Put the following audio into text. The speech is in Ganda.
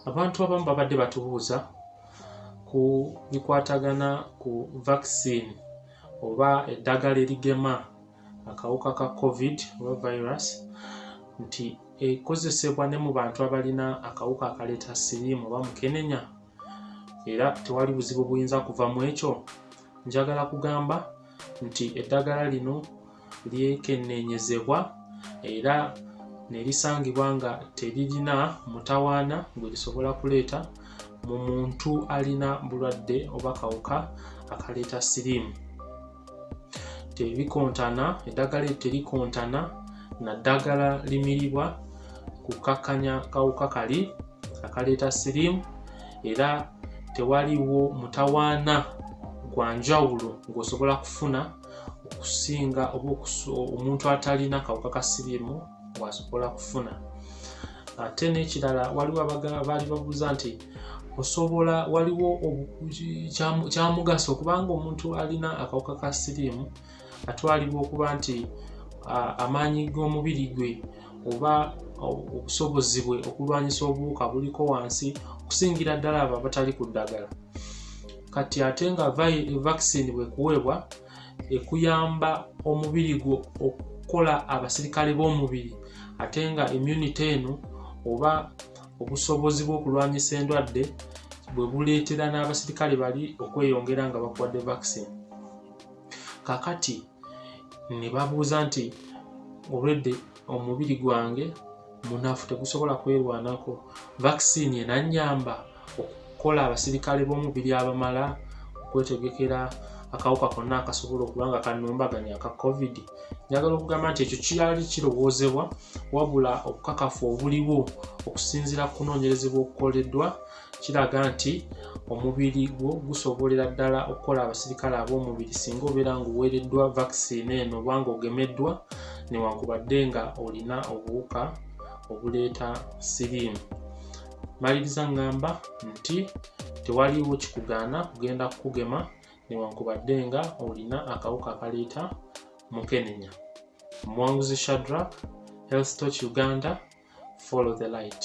abantu abamu babadde batubuuza ku bikwatagana ku vaccine oba eddagala erigema akawuka ka covid oba virus nti ekozesebwa ne mu bantu abalina akawuka akaleeta siriimu oba mukenenya era tewali buzibu buyinza kuva mu ekyo njagala kugamba nti eddagala lino lyekenneenyezebwa era ne lisangibwa nga teririna mutawaana gwe lisobola kuleeta mu muntu alina bulwadde oba kawuka akaleeta siriimu tebikontana eddagala eryo terikontana na ddagala limiribwa kukkakkanya kawuka kali akaleeta siriimu era tewaliwo mutawaana gwa njawulo ng'osobola kufuna okusinga oba omuntu atalina kawuka ka siriimu bw'asobola kufuna ate n'ekirala waliwo baali babuuza nti osobola waliwo kyamugaso okubanga omuntu alina akawuka ka siriimu atwalibwa okuba nti amaanyi g'omubiri gwe oba obusobozi bwe okulwanyisa obuwuka buliko wansi okusingira ddala abo abatali ku ddagala kati ate nga vaccine bwekuweebwa ekuyamba omubiri gwo okukola abasirikale b'omubiri ate nga immunity eno oba obusobozi bw'okulwanyisa endwadde bwe buleetera n'abasirikale bali okweyongera nga bakuwadde vaccine kakati ne babuuza nti olwedde omubiri gwange munafu tegusobola kwerwanako vaccine enanyamba okukola abasirikale b'omubiri abamala okwetegekera akawuka konna akasobola okuba nga kanumbaganya aka covid njagala okugamba nti ekyo kiyali kirowoozebwa wabula obukakafu obuliwo okusinziira ku kunoonyerezebwa okukoleddwa kiraga nti omubiri gwo gusobolera ddala okukola abasirikale ab'omubiri singa obeera ng'oweereddwa vaccine eno oba ng'ogemeddwa newankubadde nga olina obuwuka obuleeta siriimu maliriza ngamba nti tewaliwo kikugaana kugenda kukugema newankubadde nga olina akawuka akaleeta mukenenya omuwanguzi shadrak health toch uganda follow the light